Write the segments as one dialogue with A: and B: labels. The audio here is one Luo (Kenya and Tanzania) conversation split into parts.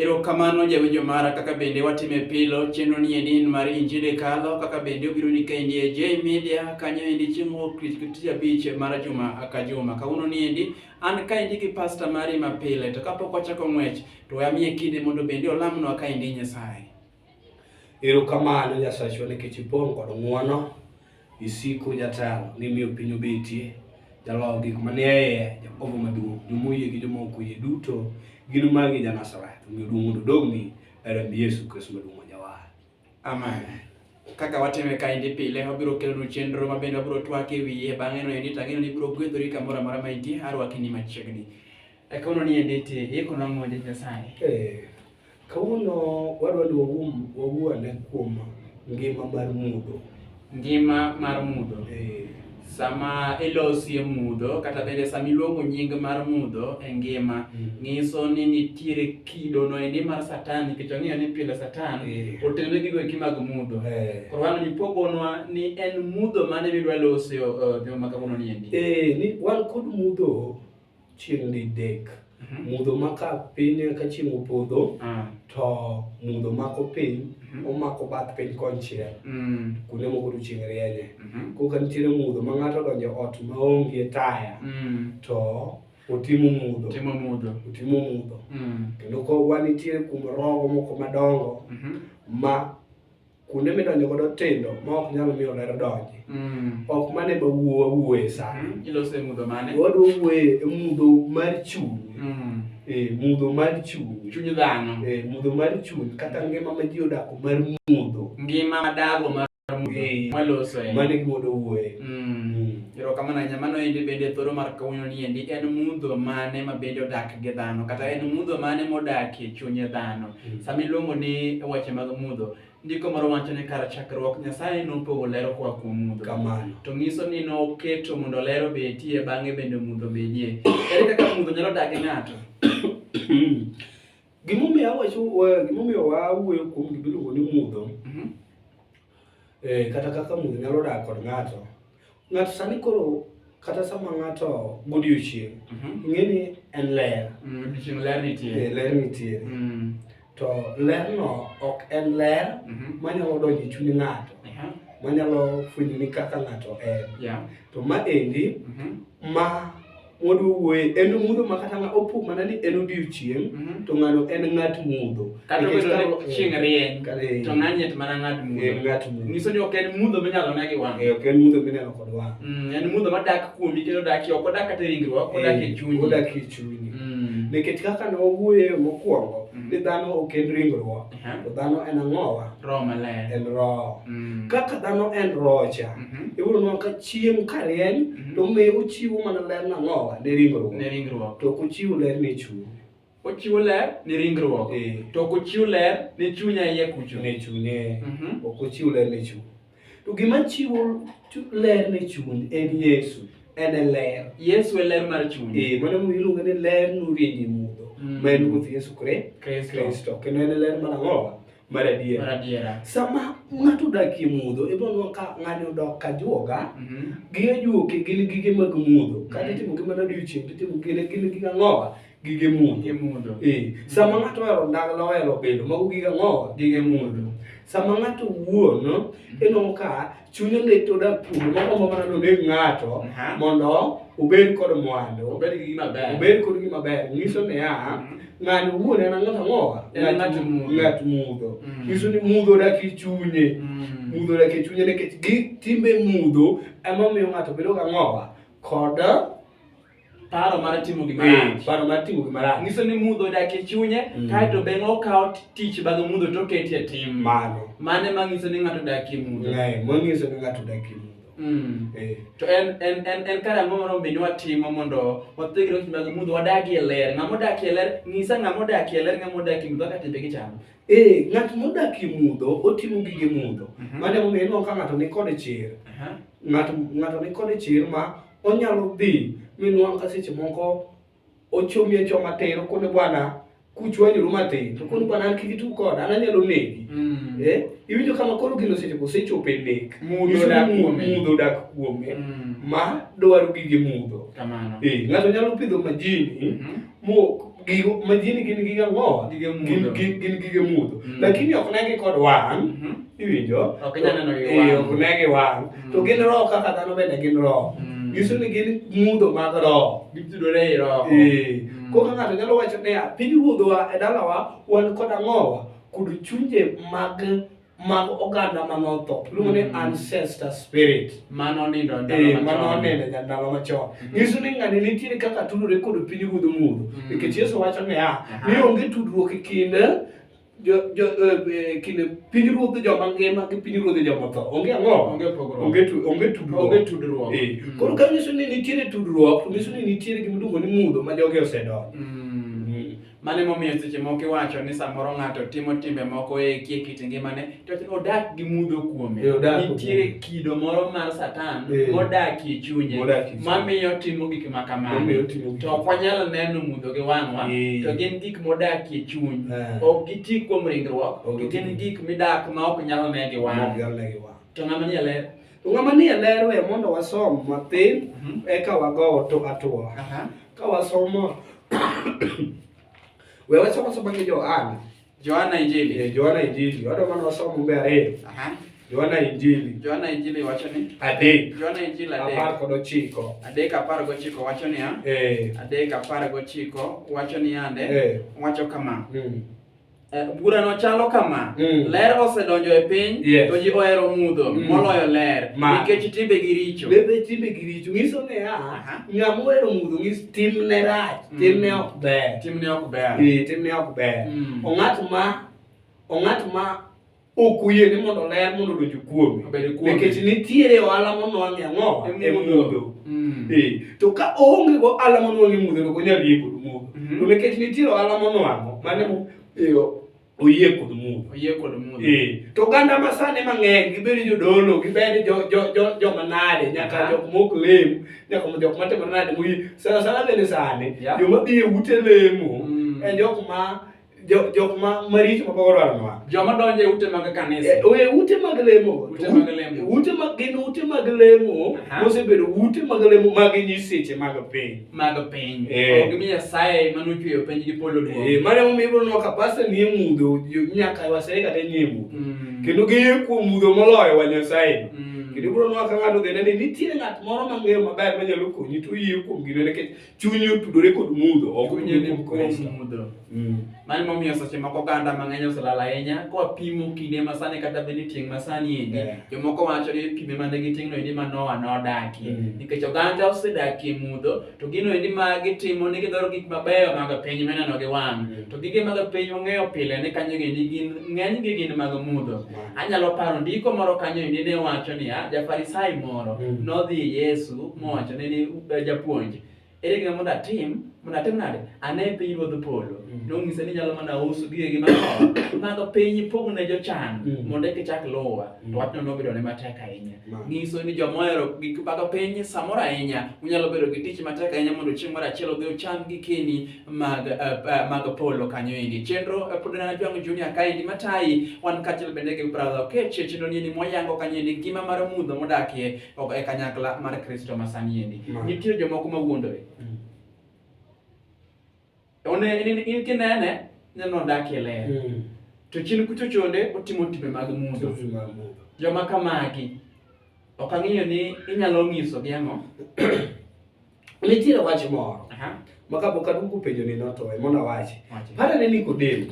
A: Erokamano jawinjo mara kaka bende watime pilo chenro ni endi en mar injili kalo kaka bende obiro ni ka endi e J Media kanyo endi chieng' wuok tich tich abich mar juma ka juma kawuono ni endi an ka endi gi pastor mari mapile to kapok wachako ng'wech to we amiye kinde mondo bende olamnwa ka endi Nyasaye.
B: Erokamano Nyasachwa nikech ipong' kod ng'wono, isiko jatelo, nimiyo piny obetie, jaloyo gik manie iye, Jakobo maduong', jomoyie gi joma ok oyie duto, gin magi Janasareth, omiyo duong' mondo odogni, e remb Yesu Kristo maduong' ma Jawar. Amen.
A: Kaka watime kaendi pile, wabiro kelonu chenro ma bende wabiro twak e wiye bang'e no endi to ang'eyo ni ibiro gwedhori kamoro amora ma intie, arwaki ni machiegni. E kono ni endi ti, iko nang'o Nyasaye? Eh. Kawuono
B: wadwa ni wawuo ane kuom ngima mar mudho. Ngima
A: mar mudho. Eh. Sama ilosie mudho kata bende sama iluongo nying mar mudho e ngima, mm. ng'iso ni nitiere kido no endi mar Satan nikech ong'eyo ni pile Satan eh. otenore gi goeki mag mudho. Eh. Koro wan ipogonwa ni en mudho mane midwa losie joma kawuono ni endi. Ni wan kod
B: mudho chieng' didek Mhm. mudho ma ka piny ka chieng' opodho Ah. to mudho mako piny Mhm. omako bath piny konchiel Mm. kuonde moko to chieng' rienye Mhm. koka nitiere mudho ma ng'ato odonjo ot ma onge taya Mm. to otimo mudho Timo mudho. otimo mudho Mm. kendo ko wanitiere kuom rogo moko madongo Mhm. ma kuonde midonjo godo tindo ma ok nyal miyo ler donji mm. ok mane ma wuo wawuoye sani mm, ilose mudho mane
A: wadwa wuoye e
B: mudho mar chuny mm. e mudho mar chuny chuny dhano e
A: mudho mar chuny
B: kata ngima ma ji odako mar mudho ngima madago
A: mar mudho e, maloso e mane gimodo wuoye
B: erokamano
A: ahinya mano endi bende thoro mar kawuono ni endi en mudho mane ma bende odak gi dhano kata en mudho mane modakie chunye dhano Sama iluongo ni weche mag mudho, ndiko moro wacho ni kar chakruok Nyasaye nopogo ler koa kuom mudho. Kamano. To nyiso ni noketo mondo ler obetie bang'e bende mudho bedie. Ere kaka mudho nyalo dak gi ng'ato? Gimomiyo
B: awacho wa- gimomiyo wawuoyo kuom gima iluongo ni mudho Mhm. eh, kata kaka mudho nyalo dak kod ng'ato Ng'ato sani koro kata sama ng'ato godiochieng' Mhm. ing'e ni en ler Mm,
A: Odiechieng' ler Eh, nitie. ler nitie
B: Mm, to lerno ok en ler mhm. manyalo donjo e chuny ng'ato Aha, manyalo fwenyo ni kaka ng'ato en yeah, to ma endi mhm. ma mond wuoye en mudho ma kata ng'a opo mana ni en odiochieng' Mhm. to ng'ano en ng'at mudho kata Nikech obedo karo- ni
A: chieng' rieny Kare- to ng'anye to mana ng'ad en mudho ng'at mudho nyiso ni ok en mudho minyalo ne gi wang' Eh, ok en mudho mineno kod
B: wang' Mm, en mudho madak
A: kuomi kendo odak ok odak kata e ringruok odak e Eh, chunyi odak e chunyi Mm.
B: nikech kaka ne wawuoye mokwongo Mhm. ni dhano ok en ringruok Aha. To dhano en ang'owa? Roho maler. En
A: roho. Mm.
B: Kaka dhano en roho cha, Mhm. iwuono nwa ka chieng' ka rieny, Mhm. to miyo ochiwo mana ler nang'owa ne ringruok. Ne ringruok. To kochiwo ler ne chuny. Ochiwo ler
A: ne ringruok. Eh. To ok ochiw ler ne chunya iye kucho. Ne chunye. Mhm.
B: Ok ochiw ler ne chuny. To gima chiwo ler ne chuny en Yesu. En e ler. Yesu e ler mar
A: chuny. Eh, mano mu iluongo ni ler
B: nurieny e mudho. Mm. Ma en Ruoth Yesu Kristo. Kendo en e ler mar ang'o? Mar adiera. Sama ng'ato odak e mudho, ibo nwa ka ng'ani odok ka juoga, mm-hmm. gige juoke gin gige mag mudho. Kata mm-hmm. itimo gi mana odiochieng' to itimo gine gine gige ang'owa. gige mudho eh, sama ng'ato ohero ndagla ohero bedo mago gige ang'o gige mudho sama ng'ato wuon eno ka chunye ne to da pur moko ma mana noneg ng'ato mondo obed kod mwandu obed gi gima ber obed kod gima ber nyiso ne ya mm-hmm. ng'ani wuon en ang'o ang'o ng'at ng'at mudho mm. nyiso ni mudho dak e chunye mm. mudho dak e chunye nikech gi timbe mudho ema miyo ng'ato bedo ga ng'owa kod
A: paro mar timo gima eh, rach paro mar timo gima rach nyiso ni mudho odak e chunye mm. kaeto beng' okawo tich bang' mudho to oketi e tim mano mane ma nyiso ni ng'ato odak e mudho eh, ma nyiso ni ng'ato
B: odak e mudho mm. eh. to
A: en en en en kare ang'o moro bende watimo mondo wathegre weche mag mudho wadagi e ler ng'ama odaki e ler nyisa ng'ama odaki e ler ng'ama odaki e mudho kaka timbe gichamo ee ng'at
B: modaki e mudho otimo gige mudho mhm. mane momiyo ineno ka ng'ato nikod chir ng'ato nikod chir ma onyalo dhi minwang' ka seche moko ochomi e choma tir okone bwana kuchwanyru matin to koni bwana an kik itu koda an anyalo negi mm. eh? iwinjo kama koro gino seche ko sechopo e nek mudho dak kuome mm. ma dwaro gige mudho eh, ng'ato nyalo pidho majini mm-hmm. gigo majini gin gige ang'o gige mudho gin gin gige mudho mm. lakini ok negi kod wang' mhm. iwinjo ok nyalo neno
A: gi wang' ok negi wang' mm. to
B: gin roho kaka dhano bende gin roho mm. nyiso ni gin mudho mag roho gitudore ei roho
A: ee koro ng'ato
B: nyalo wacho niya piny ruodhowa e dalawa wan kod ang'owa kod chunje mag mag oganda ma notho iluongo ni ancestor spirit mano nindo e
A: ndalo machon. mano onene ja
B: ndalo machon nyiso ni ng'ani nitiere kaka tudore kod piny ruodh mudho nikech yesu wacho niya ni onge tudruok e kind jo- jo- eh, eh, kind piny ruodh joma ngima gi piny ruodh joma tho onge ang'o Onge pogruok. onge tu- onge tudruok Onge tudruok. Eh, Mm. koro ka nyiso ni nitiere tudruok to nyiso ni nitiere gimiluongo ni mudho ma jogi osedonjo Mm.
A: Mano emomiyo seche moko iwacho ni samoro ng'ato timo timbe moko e kie kit ngimane to odak gi mudho kuome. E, odak gi Nitiere mudho. kido moro mar Satan E. modak e chunye Modak e chunye. mamiyo otimo gik ma kamano. Omiyo otimo gik To ok wanyal neno mudho gi wang'wa, E. to gin gik modak e chuny. Eh. Ok giti kuom ringruok, Ok to gin giti. gik midak ma ok nyal ne gi Mano wang'. nyalo ne gi wang'. To ng'ama nie ler, To ng'ama ni e ler
B: we mondo wasom mathin mhm. eka wagowo to atwo. Ka wasomo we wasomo somo gi Johana. Johana Injili. Eh, Johana Injili. Wado mana wasomo mbe ariyo. Aha. Johana Injili. Johana Injili wacho ni adek. Johana Injili adek. Apar
A: kod ochiko.
B: Adek apar gochiko wacho
A: niya. Eh. Adek apar gochiko wacho niya nde. Eh. Wacho kama. Mm. Eh, burano chalo kama mm. ler osedonjo e piny yes. to ji ohero mudho mm. moloyo ler nikech timbe gi richo bebe timbe gi richo nyiso
B: ni a ng'ama ohero mudho ng'is timne rach mm. timne ok ber timne ok ber e, timne ok ber mm. ong'at ma ong'at ma ok oyie ni mondo ler mondo odonj kuome nikech nitiere ohala monwang'e ang'o e mudho mm. eh, to ka oonge go ohala monwang'e e mudho to onyal yie kod mudho mm-hmm. to nikech nitiere ohala monwang'o mane eh, oyie kod mudho oyie kod mudho eh, to oganda ma sani mang'eny gibedi jodolo gibedi joma nade nyaka jok mok lem nyaka jok matimo nade moyie sana sana bende sani joma dhi e ute lemo mm. en jok ma jo jok ma maricho ma pok odwaro nwa joma donjo e ute mag
A: kanisa Eh, oye ute mag lemo
B: Ute mag lemo. ute mag gin ute mag lemo Aha. mosebedo ute mag lemo mag nyiseche mag piny mag piny Eh. ok mi
A: nyasaye mane ochweyo piny gi polo Eh, duong' mane momiyo ibiro nwa ka
B: pasta nie mudho jo- nyaka wasere kata nie mudho Mm. kendo giyie kuom mudho moloyo wa nyasaye Mm. kendo ibiro nwa ka ng'ato dhene ni nitie ng'at moro mang'eyo maber manyalo konyi to oyie kuom gino nikech chunyi otudore kod mudho ok chunyi ni kuom mudho mm.
A: mani momiyo seche moko oganda mang'eny oselal ahinya koa pimo kinde masani kata bed ni tieng' masani endi yeah. jomoko wacho ni pime mane giting'no endi ma noa nodakie mm. nikech oganda osedakie mudho to gino endi ma gitimo ni gidwaro gik mabeyo mag piny mineno gi wang' mm. to gige mag piny ong'eyo pile ni kanyo endi gin ng'eny gi gin mag mudho mm. anyalo paro ndiko moro kanyo endi ne wacho niya jafarisai moro mm. nodhi yesu mowacho ne ni japuonj ere gima mondo atim mondo atim nade ane piny ruodh polo mm. nong'ise ni nyalo mana uso gigegi matho mago piny ipog ne jochan mm. mondo eka ichak luwa to mm. wachno nobedo ne matek ahinya ng'iso ni joma ohero gik mago piny samoro ahinya unyalo bedo gi tich matek ahinya mondo chieng' moro achiel odhi ocham gikeni mag eh, eh, mag polo kanyo endi chenro eh, pod nana jwang' junior kaendi matayi wan kaachiel bende gi brother okech chenro ni ni moyango kanyo endi ngima mar mudho modakie ok e kanyakla mar Kristo ma sani endi. Ma. Nitie jomoko ma wuondore. Mm. One in, in kinene ineno odak e ler. Mm. To chien kucho chonde otimo timbe mag mudho. Tutu ma mudho. Joma kamagi ok ang'eyo ni inyalo nyisogi ang'o.
B: Nitiere wach moro ma kapok aduogo penjo ni notoe mondo awache. Para ne Nikodemo,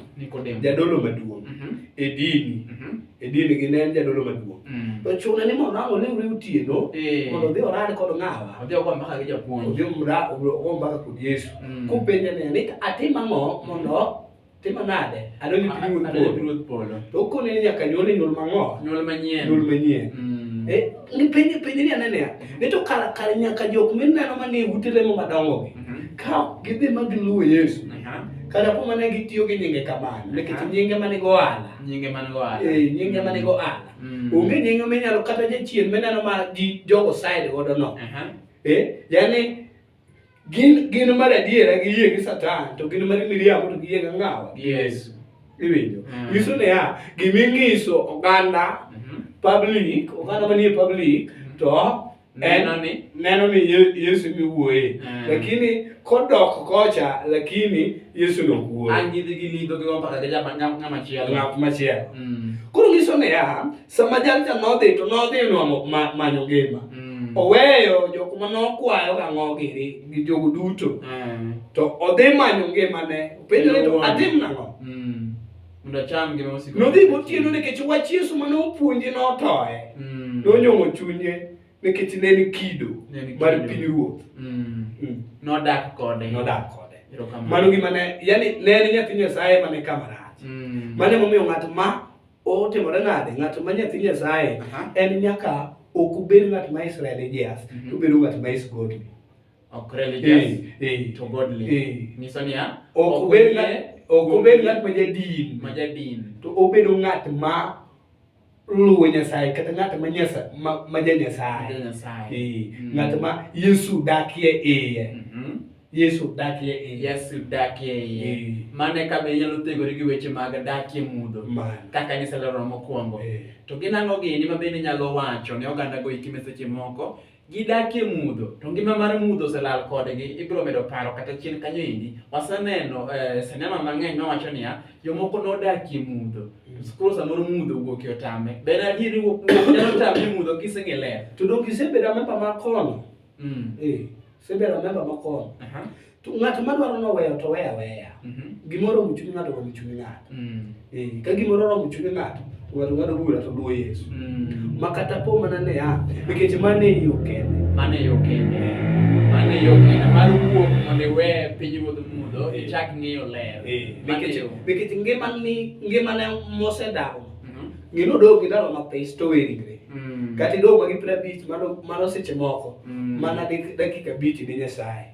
B: jadolo maduong' mhm. e dini, mhm. e dini gi ne en jadolo maduong'. Mm. To chune ni mondo ang' olewre otieno eh. mondo odhi orad kod ng'awa. Odhi ogo mbaka gi japuonj.
A: Odhi ogo mbaka
B: kod Yesu. Mm. Kopenje ni atim ang'o mondo Timo nade? Adwaro ni pinyruodh Adwaro polo. pinyruodh polo. To okone ni nyaka nyuol e nyuol mang'o? Nyuol manyien. Nyuol
A: manyien. Mm. Eh, ni penj
B: penj ni anene ya. Ni to kar kar nyaka jok mineno manie ute lemo madongo gi. Mhm. Ka ok gidhi ma giluwo Yesu. Aha. Kata po mana gitiyo gi nyinge kamano. Nikech Aha. nyinge mane go ala. Nyinge man go ala. Eh, nyinge mane go ala. Mm. Onge nyinge minyalo kata jachien mineno ma ji jogo side godo no. Aha. Eh, yani Gin gin mar adiera gi yie gi Satan to gin mar miriambo to gi yie gi ngawa gi Yesu. Iwinjo. Mm. Nyiso ne ya gimi ngiso oganda mhm. public oganda manie public mhm. to neno ni neno ni Yesu mi wuoye. Mm. Lakini kodok kocha lakini Yesu no wuoye. Angidhi gi lidho gi
A: mpaka ga jama ngama chielo. Ngama chielo. Mm.
B: Koro nyiso ne ya sama jalcha nodhi to nodhi nwang'o ma- manyo ngima Mm. oweyo jok ma nokwayo gang'o giri gi jogo duto Eh. to odhi manyo ngimane openjo ni to atim nang'o Mm. Mondo
A: acham ngima mosiko. nodhi gotieno nikech
B: wach yesu mane opuonje notoye Mm. nonyong'o chunye nikech ne ni kido Ne ni mar kido. pinyruoth Mm. Mm.
A: Nodak kode. nodak kode Erokamano.
B: mano gima ne yani ne en nyathi nyasaye mane kama rach Mm. mane momiyo ng'at ma Otimore nade? Ng'at ma nyathi Nyasaye en nyaka ok obed ng'at ma is religious, mhm. to obedo ng'at ma is godly. Ok religious, eh,
A: eh, to godly. Eh. Nyiso niya, ok obed
B: ok obed ng'at ma jadin, ma jadin, to obedo ng'at ma luwo Nyasaye kata ng'at ma nyasa ma, ma ja Nyasaye. Nyasaye. Eh, mm. ng'at ma Yesu dakie iye. Mm -hmm. Yesu dakie iye. Yesu dakie iye. Eh. Mano e kama inyalo
A: thegori gi weche mag dakie mudho kaka niselero mokwongo. Eh. To gin ang'o gini ma bende inyalo wacho ne oganda go ikime seche moko gidakie mudho to ngima mar mudho oselal kodgi ibiro medo paro kata chien kanyo endi waseneno eh, sinema mang'eny mawacho niya jomoko nodakie mudho skul samoro mudho wuok e otame ber adieri nyalo tame mudho kiseng'e ler to dok isebeda memba
B: mar kono Mm. Eh, sebe remember makon. Aha. To ng'at ma dwaro noweyo to weya weya. Mhm. Gimoro omo chuny ng'ato omo chuny ng'ato. Mm. Eh, ka gimoro oromo chuny ng'ato, to ng'ato ng'ado bura to luwo Yesu. Mm. Ma kata po mana ne a, nikech mano e yo kende. Mano e yo kende. Mano e yo kende.
A: Mar wuok mondo iwe pinyruodh mudho, Eh.
B: ichak ng'iyo ler. Eh, Mano e nikech yo. nikech ngimani ngimane mosedago. Mhm. Ngino dog gi ndalo mathin to we ringre. Mm. Kata idong' ma gi piero abich mano mano seche moko. Mm. Mana dik- dakika abich ne Nyasaye.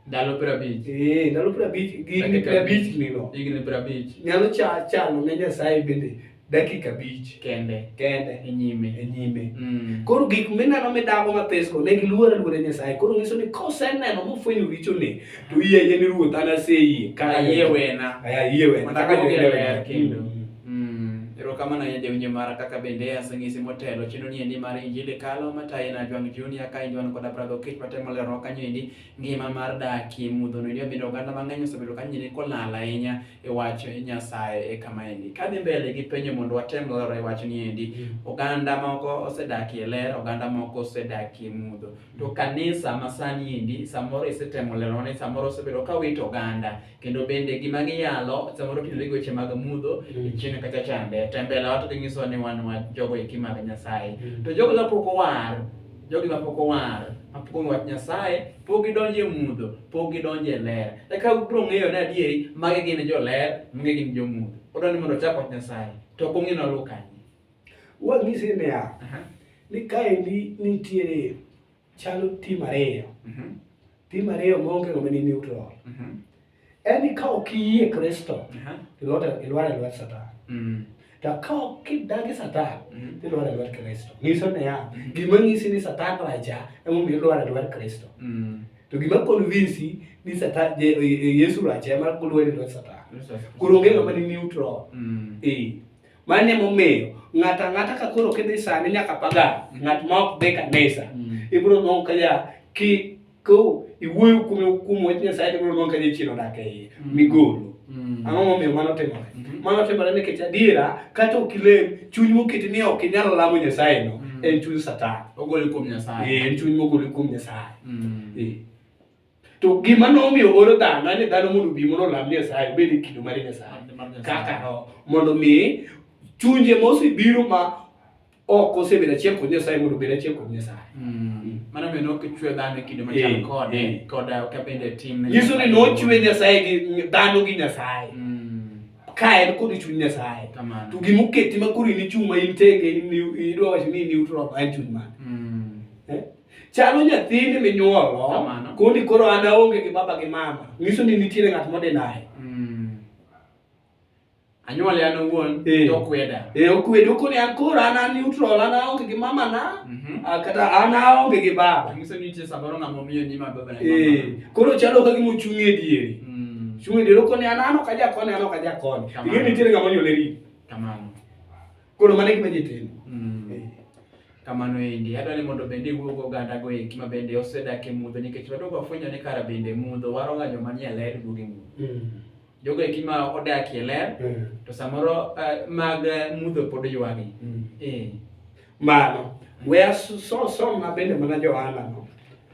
B: Ndalo piero abich.
A: Eh, ndalo piero abich gi higni
B: Dakika piero abich ni no. Higni piero abich
A: Nyalo cha- chano
B: ne Nyasaye bende dakika abich kende kende
A: e nyime.
B: e nyime. Mm. Koro gik
A: mineno midago
B: mathesgo ne giluoro aluora Nyasaye. Koro nyiso ni koseneno mofwenyo richone to iye yie ni ruoth an aseyie. Ayie wena.
A: Ayie wena. Mondo Kaka aduogi
B: e jodolo. ler kendo.
A: Mm. Mm, erokamano ahinya jawinjo mara kaka bende aseng'isi motelo chino ni endi mar injili kalo mataye na jwang junior ka injwan koda brother okech matemo lerowa kanyo endi ngima mar dakie mudho no endi omido oganda mang'eny osebedo kanyo endi kolal ahinya e wach nyasaye e kama endi kadhi mbele gi penjo mondo watem lero e wach ni endi oganda moko osedakie ler oganda moko osedakie mudho to kanisa masani endi samoro isetemo lerone samoro osebedo ka wito oganda kendo bende gima giyalo samoro otudore gi weche mag mudho Mm. chieng' kacha chande to e mbele wato ginyiso ni wan wa jogo eki mag nyasaye Mm. to jogo mapok owar jogi mapok owar mapok ong'eyo wach nyasaye pok gidonjo e mudho pok gidonjo e ler eka ubiro ng'eyo ni adieri magi gin joler magi gin jomudho odwa ni mondo ochak wach nyasaye to ok ong'e noluw kanye Wang'ise
B: niya, Aha. ni kaendi nitiere chalo tim ariyo mhm. tim ariyo maonge ng'ama ni neutral mhm. en ni ka ok iyie kristo ilwar e lwet satan mm. to ka ok idagi satan mhm. ilwar e lwet kristo nyiso niya gima nyisi ni satan raja emomiyo ilwar e lwet kristo mm. to gima convinsi ni satan e, e, yesu raja ema kulwar e lwet satan koro onge ng'ama ni neutral mm. ee Mano ema omiyo ng'ato ang'ata ka koro kidhi sani nyaka pagan, ng'at ma ok dhi kanisa, mm. ibiro nongo ka ja ki ko iwuoyo kuom kuom wach Nyasaye ibiro nongo ka ja chiero dak e iye, mm. migolo. Mm. Ang'o momiyo mano timore? Mm-hmm. Mano timore nikech adiera kata ok ilem, chuny moketi ni ok inyal lamo Nyasaye no, en chuny Satan. Ogole kuom Nyasaye.
A: Eh, en chuny mogole kuom
B: Nyasaye. Eh. To gima nomiyo oro dhano en ni dhano mondo obi mondo olam Nyasaye obed e kido mar Nyasaye kaka roho mondo mi chunje mosebiro ma ok osebedo achiel kod Nyasaye mondo obed achiel kod Nyasaye. Mm. Mano miyo
A: nokichwe dhano e kido machal eh, kode eh. koda uh, ka bende tim. Nyiso ni nochwe
B: Nyasaye gi dhano gi Nyasaye. Mm. Ka en kod chuny Nyasaye. To gima oketi ma koro in ichung' ma in tenge in idwa wacho ni in neutral en chuny mane? Mm. Eh? Chalo nyathini minyuolo Kamano. koni koro an aonge gi baba gi mama. Nyiso ni nitiere ng'at modinaye. Mm.
A: Anyuole an owuon Eh. to kweda. E okwede okoni an
B: koro an an neutral an aonge gi mama na. Mhm. ah, Kata an aonge gi baba. Nyiso ni nitie samoro ng'ama
A: omiyo nyima baba na Eh, mama. koro chalo ka gima
B: ochung' e diere. Mm. Chung' e diere okoni an an ok aja koni an ok aja koni. Kamano. Ing'e ni nitiere ng'ama onyuole ri. Kamano.
A: Koro mane
B: gima ji timo. Mm. Eh.
A: Kamano endi, adwa ni mondo bende iwuo go oganda go eki ma bende osedak e mudho nikech wadogo afwenyo ni kara bende mudho waroga joma nie ler duogo e mudho. Mm. Jogo eki ma odak e ler mm. to samoro uh, mag mudho pod ywagi. Mm. Eh.
B: Mano, we are so so so ma bende mana Johanna no.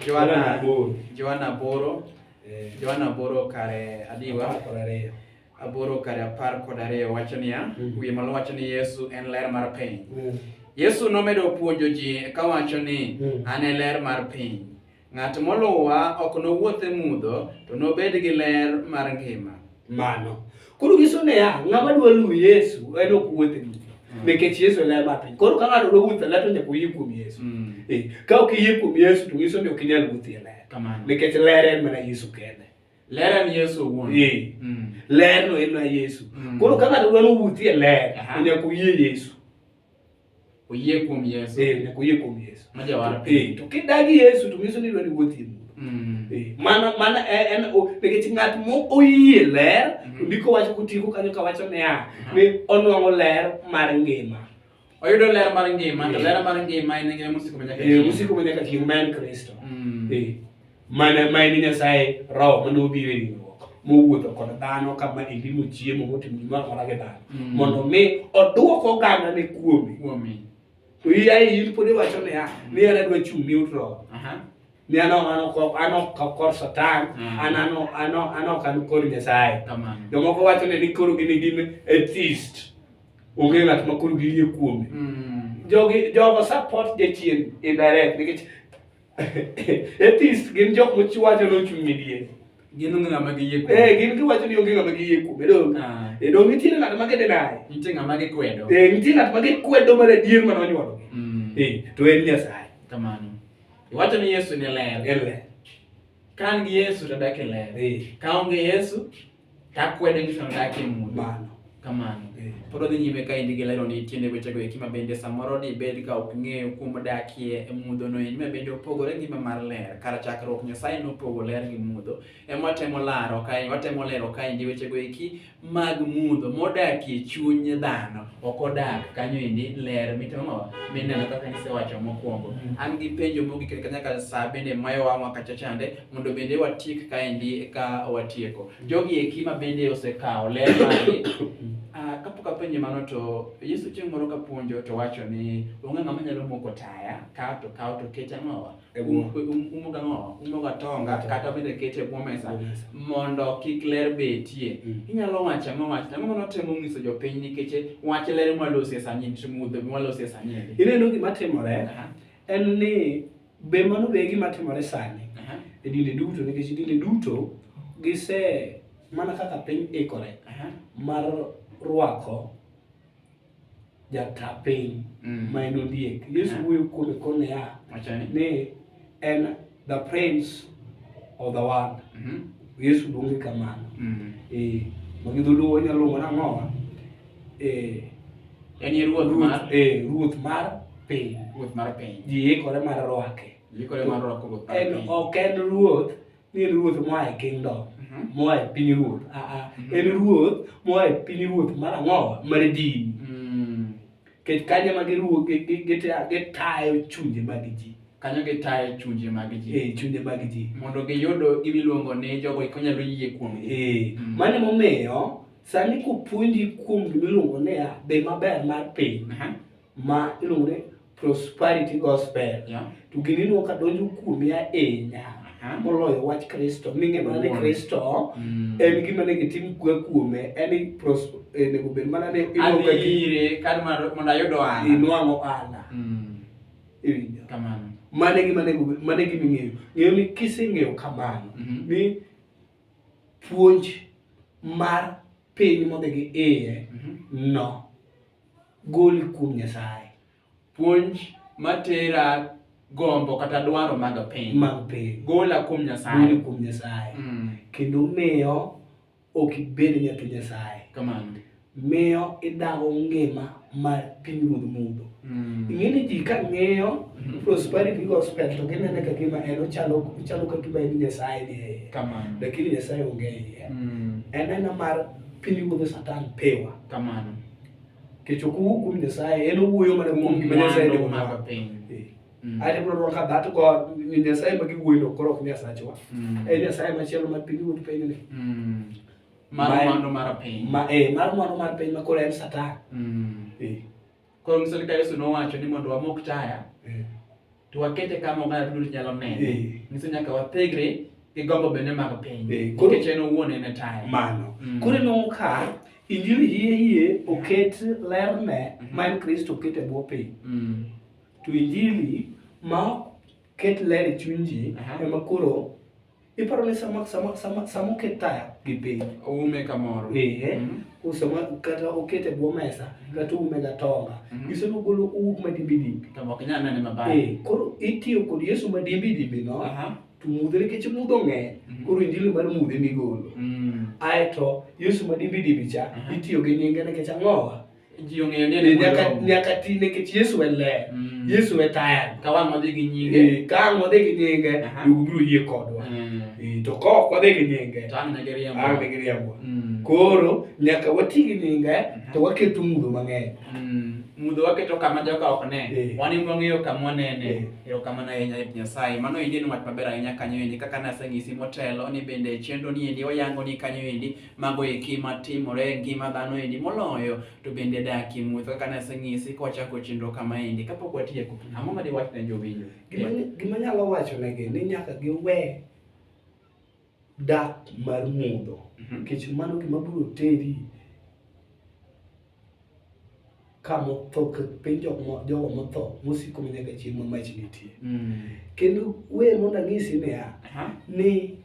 B: Johanna Boro. Johanna Boro. Eh. Johanna Boro kare adiwa. Apar kod ariyo. aboro kar apar kod ariyo wacho niya, mm. wiye malo wacho ni Yesu en ler mar piny. Mm. Yesu nomedo puonjo ji kawacho ni mm. an e ler mar piny. Ng'at moluwa ok nowuoth e mudho to nobed gi ler mar ngima. Mano. Koro nyiso niya, ng'ama dwa luwo Yesu en ok wuoth e mudho. Mm. Nikech Yesu e ler mar piny. Koro ka ng'ato dwa wuoth e ler to nyaka oyie kuom Yesu. Mm. Eh, ka ok iyie kuom Yesu to nyiso ni ok inyal wuoth e ler. Nikech ler en mana Yesu kende. Ler en Yesu owuon. Ee. Mm. Ler no en na Yesu. Mm. Koro ka ng'ato dwa nowuothie ler, Aha. nyaka oyie Yesu. Oyie kuom Yesu. Ee, nyaka oyie kuom Yesu. Ma jawar. Ee, to kidagi Yesu to nyiso ni idwa ni iwuothie mudho. Mm. Ee, Mana mana e- en o- nikech ng'at mo oyie ler, Mhm. to ndiko wacho kotieko kanyo kawacho niya, Aha. ni onwang'o ler mar ngima. oyudo ler mar ngima to ler mar ngima en ngima mosiko manyaka eh, chieng' mosiko manyaka chieng' ma en kristo mm. eh, mana ma en nyasaye roho mane obiro e ringruok mowuotho kod dhano kama endi mochiemo motimo gimoro amora gi dhano mm. mondo mi oduok oganda ne kuome to iyae in pod iwacho niya ni an adwa chung' ni ut roho ni an ok kor satan mm. an ok an kor nyasaye jomoko wacho ni koro gin gin atheist onge ng'at ma koro giyie kuome mm. jogi jogo support jachien indirect nikech atheist gin jok mochiwacho nochung' midie gin onge ng'ama giyie kuome eh gin giwacho ni onge ng'ama giyie kuome dong ah. e dong nitie ng'at ma gidenaye nitie ng'ama gikwedo eh nitie ng'at ma gikwedo mar adier ma nonyuolo mm. eh to en nyasaye kamano iwacho ni yesu ne ler en ler ka an gi yesu to adak e ler eh. ka onge yesu Takwedo ni sono dak e mudho. Mano. Kamano. Eh. Pod odhi nyime ka endi gi lero ni tiende wechego eki ma bende samoro dibed ka ok ng'eyo kuom dakie e mudho no endi ma bende opogore ngima mar ler. Kar chakruok Nyasaye nopogo ler gi mudho. Ema watemo laro kae, watemo lero ka endi wechego eki mag mudho modakie chuny dhano. Ok odak kanyo endi ler mitemo mineno kaka nisewacho mokwongo. An gi penjo mogik kanyakla sa bende mayo wang'wa kacha chande. mondo bende watiek kaendi eka watieko. Jogi eki ma bende osekawo ler mari ah, kapok apenje mano to Yesu chieng' moro kapuonjo to wacho ni onge ng'ama nyalo moko taya kawo to kawo to kete ang'owa E bwo. Um- um- umoga ang'owa umoga tonga kata bende kete e bwo mesa mondo kik ler betie Mm. inyalo wacho ang'o wach ang'o ma notemo nyiso jopiny nikech wach ler mwalosi e sani mudho mwalosi e sani endi. Ineno gima timore Aha. en ni Be mano be e gima timore sani e dinde duto nikech dinde duto gise mana kaka piny ikore mar rwako jata piny mm. ma en ondiek yesu wuoyo kuome kone ya ni en the prince of the world mm-hmm. yesu luonge kamano mm. eh, magidholuo wanyalo luongo nang'owa Eh, En e ruoth mar ruoth eh, ruoth mar piny ruoth mar piny. ji ikore mar rwake Yikore mar rwako ruoth mar en piny. ok en ruoth ni en ruoth moa e kingdom Mhm. moa e piny ruoth aa Mhm. en ruoth moa e piny ruoth mar ang'o mar dini Mm. nikech kanyo ema giruo- gi- gi- gita- gitayo chunje mag ji Kanyo gitayo chunje mag ji. eh, chunje mag ji mondo giyud gimiluongo ni jogo konyalo yie kuomgi. Eh, Mm. mano emomiyo Sani kopuonji kuom gima iluongo ni ya be maber mar piny ma iluongo ni prosperity gospel to gini inuo ka donjo kuomi ahinya moloyo wach kristo ming'e mana ni kristo mm. en gima ne gitim kwe kuome en eh, nego bed mana ni mondo ayud ohala inwang'o ohala mm. iwinjo kamano mane gima nego mane gima ing'eyo ng'eyo ni kiseng'eyo kamano mm-hmm. ni puonj mar piny modhi gi iye mhm. no goli kuom Nyasaye. Puonj matera gombo kata dwaro mag piny. Mag piny. Gola kuom Nyasaye. Goli kuom Nyasaye. Mm. Kendo miyo ok ibed nyathi Nyasaye. Kamano. miyo idago ngima mar pinyruodh mudho mm. ing'e ni ji ka ng'iyo mm-hmm. prosperity gospel to ginene ka gima en ochalo ka gima en nyasaye ni eye lakini nyasaye onge iye mm. en ena mar pinyruodh satan pewa kamano kech ok owuo kuom nyasaye en owuoyo mana kuom gima nyasaye ni omaga
A: piny eh. mm. ate
B: bro rwaka that god nyasaye ma giwuoyo koro ok nyasachwa en nyasaye machielo ma pinyruodh pinyni mar
A: mwandu mar piny ma eh mar mwandu mar piny
B: ma koro en satan mm. eh
A: koro misali ka Yesu nowacho ni mondo wamok taya eh. to wakete kama oganda duto nyalo neno eh. nyiso nyaka wathegre gi gombo bende mag piny eh. nikech en owuon en e taya mano mm. koro inwang'o
B: ka injili hie hie oket lerne mm-hmm. ma en kristo oket e bwo piny mm. to injili ma ket ler e chuny ji ema koro Iparo ni sama sama sama sama oket taya gi piny. Oume kamoro. Ehe.
A: Mm -hmm. Usama
B: kata okete bwo mesa mm-hmm. kata ume ga tonga. Mm -hmm. Iso golo uwuok ma dimbi dimbi. To ok nyal nene maber.
A: Eh, koro itiyo kod
B: Yesu ma dimbi dimbi no. Aha. Uh -huh. To mudhe nikech mudho ng'eny. Mm -hmm. Koro injili mar mudhe migolo. Mm. Aeto Yesu ma dimbi dimbi cha uh -huh. itiyo gi nyinge nikech ang'owa. ji ong'eyo ni en
A: Eh, nyaka Wuod Roho. nyaka ti
B: nikech Yesu e ler Mm. Yesu e taya Ka wang' odhi gi nyinge.
A: Eh, ka ang' wadhi gi nyinge
B: Aha. duogo biro yie kodwa Mm. Eh, to ka ok wadhi gi nyinge To ang' ne giriambo. ang' ne
A: giriambo Mm.
B: koro nyaka wati gi nyinge to waketo mudho mang'eny Mm. Mudho
A: waketo kama joka ok ne. Eh. Wan ema wang'eyo kama wanene. Eh. Erokamano ahinya Ruoth Nyasaye. Mano endi en wach maber ahinya kanyo endi kaka naseng'isi motelo ni bende chenro ni endi oyango ni kanyo endi Mago eki matimore e ngima dhano endi moloyo to bende dak e muoth kaka naseng'isi kwachako chenro kama endi kapok watieko. Ang'o ma diwach ne jowinjo? Gima nyalo
B: wacho negi ni nyaka giwe dak mar mudho mhm. nikech mano gima biro teri ka motho piny jogo motho mosiko ma nyaka chieng' ma mach nitie mm. kendo we mondo anyisi niya ni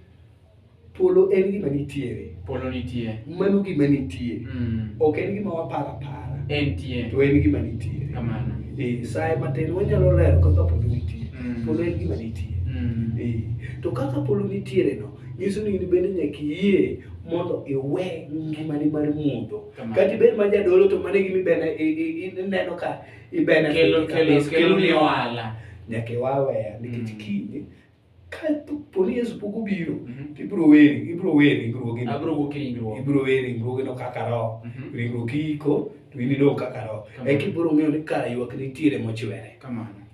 B: polo en gima nitiere polo nitie
A: mano gima nitie
B: mm. ok en gima waparo apara entie to
A: en gima nitiere
B: kamano eh,
A: saye matin
B: wanyalo lero kaka polo nitie mm. polo en gima nitie eh, to kaka polo nitiere no nyiso ni in bende nyaka iyie mondo iwe ngimani mar mudho kati bed ma jadolo to mane gimi bene ineno ka ibene kelo kelo kelo ni
A: wala nyaka wawe
B: nikech mm. kinde ka poni Yesu pok obiro mm-hmm. ibro weri ibro weri ringruoge abro go kingro ibro weri ringruoge no kaka ro mm-hmm. ringruoge iko to inido kaka ro e kibro ng'eyo ni kara ywak nitiere mochwere kamano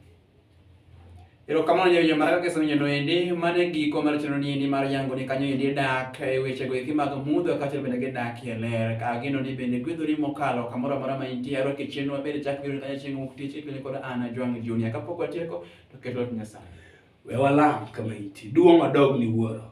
A: Erokamano nyawinjo mar kaka isenonyo noendi mane giko mar chenro ni endi mar yango ni kanyo endi dak e weche go eki mag mudho kaachiel bende gi dak e ler ka gino ni bende gwedhori mokalo kamoro amora ma intie aro ke chenro maber chak biro kanyo chieng' wuok tich ikwenye kod Anna Jwang' Junior kapok watieko to ket wach Nyasaye we walam
B: kama iti duong' odog ni wuoro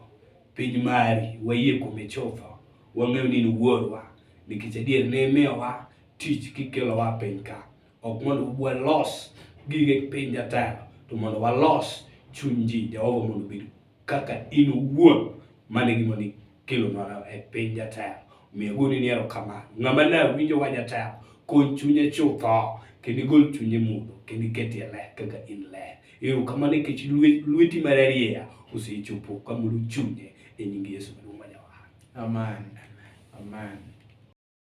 B: piny mari wayie kuome chutho wang'eyo ni in wuorwa nikech adier ne imiyowa tich kikelowa piny ka ok mondo walos gige piny jatelo to mondo walos chuny ji jehova mondo obed kaka in owuon mane gima ni kelo mana e piny jatelo miyo goni ni erokamano ng'ama ne winjo wa jatelo kony chunye chutho kendo igol chunye mudho kendo iketie ler kaka in ler ero kamano nikech lweti mararieya osechopo kamoro chunye e nying yesu maduong' ma
A: jawar
B: amen amen